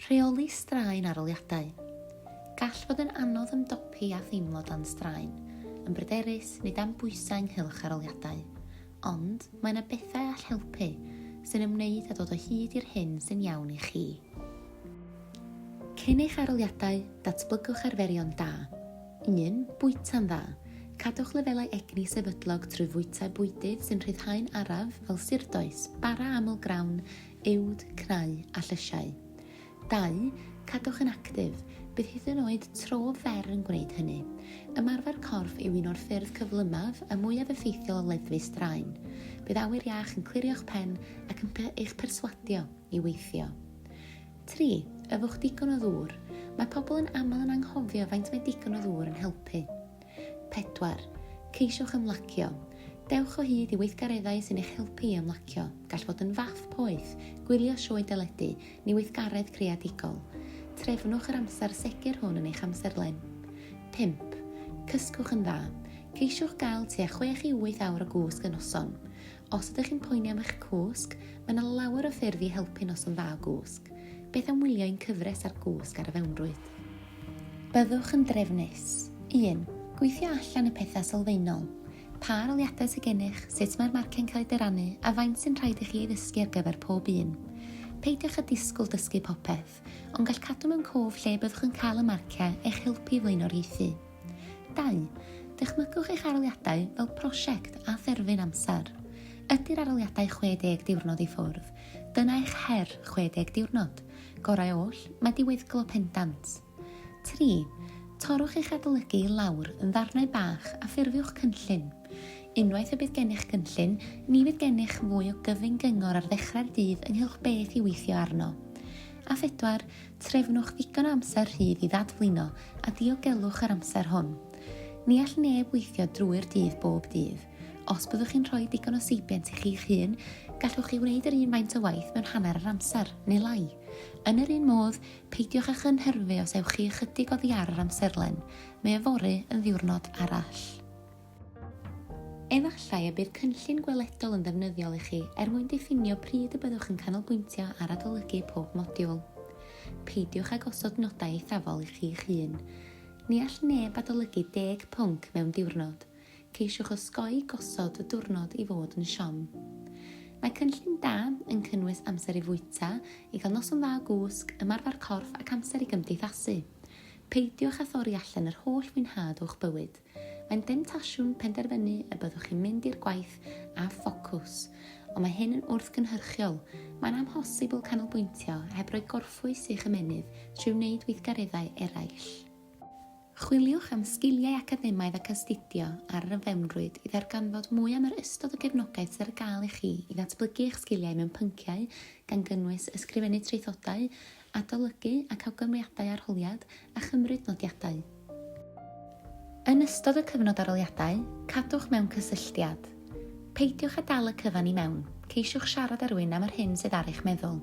Rheoli straen arholiadau. Gall fod yn anodd ymdopi â theimlo dan straen, yn bryderus neu dan bwysau ynghylch arholiadau. Ond, mae yna bethau all helpu, sy'n ymwneud â dod o hyd i'r hyn sy'n iawn i chi. Cyn eich arholiadau, datblygwch arferion da. 1. Bwyta'n dda. Cadwch lefelau egni sefydlog trwy fwyta bwydydd sy'n rhyddhau'n araf fel surdoes, bara aml grawn, uwd, cnau a llysiau. Dau, Cadwch yn actif, bydd hyd yn oed tro fer yn gwneud hynny. Ymarfer corff yw un o'r ffyrdd cyflymaf a mwyaf effeithiol o leddfu straen. Bydd awyr iach yn clirio'ch pen ac yn eich perswadio i weithio. 3. Yfwch digon o ddŵr. Mae pobl yn aml yn anghofio faint mae digon o ddŵr yn helpu. 4. Ceisiwch ymlacio. Dewch o hyd i weithgareddau sy'n eich helpu i ymlacio. Gall fod yn fath poeth, gwylio sioe deledu, neu weithgaredd creadigol. Trefnwch yr amser segur hwn yn eich amserlen. 5. Cysgwch yn dda. Ceisiwch gael tua 6 i 8 awr o gwsg y noson. Os ydych chi'n poeni am eich cwsg, mae yna lawer o ffyrdd i helpu noson dda o gwsg. Beth am wylio ein cyfres ar gwsg ar y fewnrwyd? Byddwch yn drefnus. 1. Gweithio allan y pethau sylfaenol. Pa aroliadau sydd gennych, sut mae'r marciau'n cael eu dyrannu, a faint sy'n rhaid i chi ei ddysgu ar gyfer pob un. Peidiwch â disgwyl dysgu popeth, ond gall cadw mewn cof lle byddwch yn cael y marciau eich helpu i flaenoriaethu. 2. Dychmygwch eich aroliadau fel prosiect a therfyn amser. Ydy'r aroliadau 60 diwrnod i ffwrdd? Dyna eich her 60 diwrnod. Gorau oll, mae diweddglo pendant. 3. Torrwch eich adolygu i lawr yn ddarnau bach a ffurfiwch cynllun. Unwaith y bydd gennych gynllun, ni fydd gennych fwy o gyfyn gyngor ar ddechrau'r dydd ynghylch beth i weithio arno. A phedwar, Trefnwch ddigon o amser rhydd i ddadflino a diogelwch yr amser hwn. Ni all neb weithio drwy'r dydd bob dydd. Os byddwch chi'n rhoi digon o seibiant i chi'ch hun, gallwch chi wneud yr un faint o waith mewn hanner yr amser, neu lai. Yn yr un modd, peidiwch â chynhyrfu os ewch chi ychydig oddi ar yr amserlen, mae yfory yn ddiwrnod arall. Efallai y bydd cynllun gweledol yn ddefnyddiol i chi er mwyn diffinio pryd y byddwch yn canolbwyntio ar adolygu pob modiwl. Peidiwch â gosod nodau eithafol i chi'ch hun. Ni all neb adolygu deg pwnc mewn diwrnod. Ceisiwch osgoi gosod y diwrnod i fod yn siom. Mae cynllun da yn cynnwys amser i fwyta, i gael noson dda o gwsg, ymarfer corff ac amser i gymdeithasu. Peidiwch â thorri allan yr holl fwynhad o'ch bywyd. Mae'n demtasiwn penderfynu y byddwch chi'n mynd i'r gwaith â ffocws, ond mae hyn yn wrthgynhyrchiol. Mae'n amhosibl canolbwyntio heb roi gorffwys i'ch ymennydd trwy wneud weithgareddau eraill. Chwiliwch am sgiliau academaidd ac astudio ar yr fewnrwyd i ddarganfod mwy am yr ystod o gefnogaeth sydd ar gael i chi i ddatblygu eich sgiliau mewn pynciau, gan gynnwys ysgrifennu traethodau, Adolygu ac awgrymiadau arholiad a chymryd nodiadau. Yn ystod y cyfnod arholiadau, cadwch mewn cysylltiad. Peidiwch â dal y cyfan i mewn, ceisiwch siarad â rhywun am yr hyn sydd ar eich meddwl.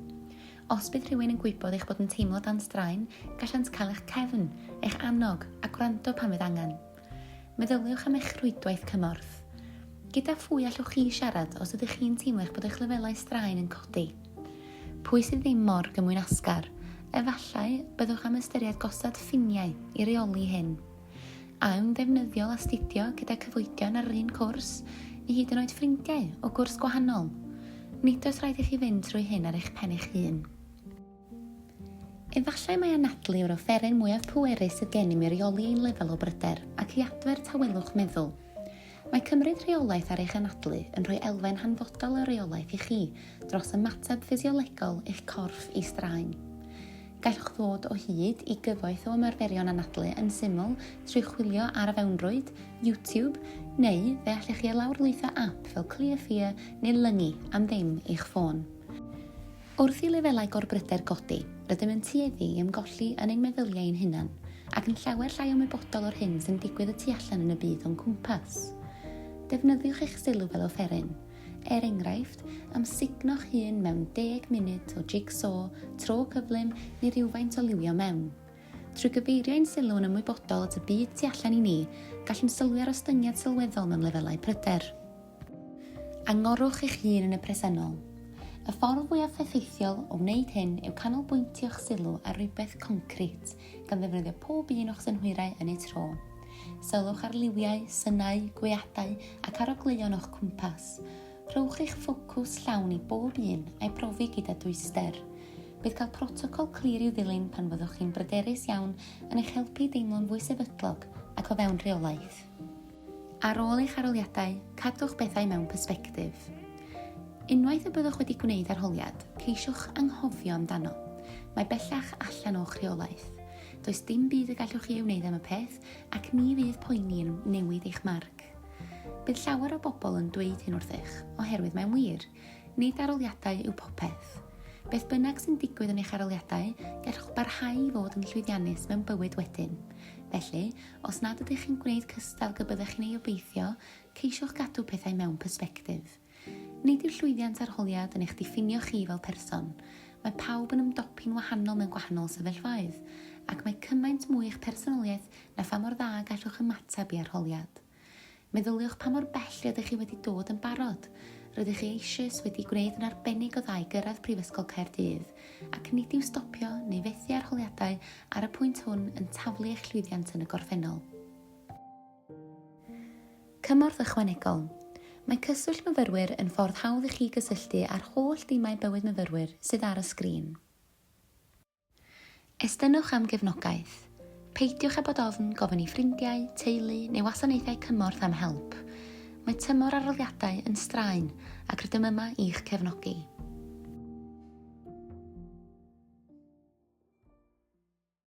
Os bydd rhywun yn gwybod eich bod yn teimlo dan straen, gallant cael eich cefn, eich annog, a gwrando pan fydd angen. Meddyliwch am eich rhwydwaith cymorth. Gyda phwy allwch chi siarad os ydych chi'n teimlo eich bod eich lefelau straen yn codi? Pwy sydd ddim mor gymwynasgar? Efallai byddwch am ystyried gosod ffiniau i reoli hyn. A yw'n ddefnyddiol astudio gyda cyfoedion ar yr un cwrs, neu hyd yn oed ffrindiau o gwrs gwahanol? Nid oes rhaid i chi fynd trwy hyn ar eich pen eich hun. Efallai mai anadlu yw'r offeryn mwyaf pwerus sydd gennym i reoli ein lefel o bryder ac i adfer tawelwch meddwl. Mae cymryd rheolaeth ar eich anadlu yn rhoi elfen hanfodol o reolaeth i chi dros ymateb ffisiolegol eich corff i straen. Gallwch ddod o hyd i gyfoeth o ymarferion anadlu yn syml trwy chwilio ar y fewnrwyd, YouTube, neu fe allech chi lawrlwytho ap fel Clear Fear neu Lungy am ddim i'ch ffôn. Wrth i lefelau gorbryder godi, rydym yn tueddu i ymgolli yn ein meddyliau ein hunain, ac yn llawer llai ymwybodol o'r hyn sy'n digwydd y tu allan yn y byd o'n cwmpas. Defnyddiwch eich sylw fel offeryn, er enghraifft, am sugno'ch hun mewn deg munud o jig-so, tro cyflym, neu rywfaint o liwio mewn. Trwy gyfeirio ein sylw yn ymwybodol at y byd tu allan i ni, gallwn sylwi ar ostyngiad sylweddol mewn lefelau pryder. Angorwch eich hun yn y presennol. Y ffordd fwyaf effeithiol o wneud hyn yw canolbwyntio'ch sylw ar rywbeth concrit, gan ddefnyddio pob un o'ch synhwyrau yn eu tro. Sylwch ar liwiau, synau, gweadau ac arogleuon o'ch cwmpas. Rhowch eich ffocws llawn i bob un a'i brofi gyda dwyster. Bydd cael protocol clir i'w ddilyn pan fyddwch chi'n bryderus iawn yn eich helpu i deimlo'n fwy sefydlog ac o fewn rheolaeth. Ar ôl eich arholiadau, cadwch bethau mewn persbectif. Unwaith y byddwch wedi gwneud arholiad, ceisiwch anghofio amdano. Mae bellach allan o'ch rheolaeth. Does dim byd y gallwch chi ei wneud am y peth ac ni fydd poeni yn newid eich marc. Bydd llawer o bobl yn dweud hyn wrthych, oherwydd mae'n wir. Nid arholiadau yw popeth. Beth bynnag sy'n digwydd yn eich arholiadau, gallwch barhau i fod yn llwyddiannus mewn bywyd wedyn. Felly, Os nad ydych chi'n gwneud cystal gy byddech chi'n ei obeithio, ceisiwch gadw pethau mewn persbectif. Nid yw llwyddiant arholiad yn eich diffinio chi fel person. Mae pawb yn ymdopi'n wahanol mewn gwahanol sefyllfaoedd, ac mae cymaint mwy eich personoliaeth na pha mor dda gallwch ymateb i arholiad. Meddyliwch pa mor bell rydych chi wedi dod yn barod. Rydych chi eisoes wedi gwneud yn arbennig o dda i gyrraedd Prifysgol Caerdydd, ac nid yw stopio neu fethu arholiadau ar y pwynt hwn yn taflu eich llwyddiant yn y gorffennol. Cymorth Ychwanegol Mae Cyswllt Myfyrwyr yn ffordd hawdd i chi gysylltu â'r holl dimau bywyd myfyrwyr sydd ar y sgrin. Estynnwch am gefnogaeth. Peidiwch â bod ofn gofyn i ffrindiau, teulu neu wasanaethau cymorth am help. Mae tymor arholiadau yn straen ac rydym yma i'ch cefnogi.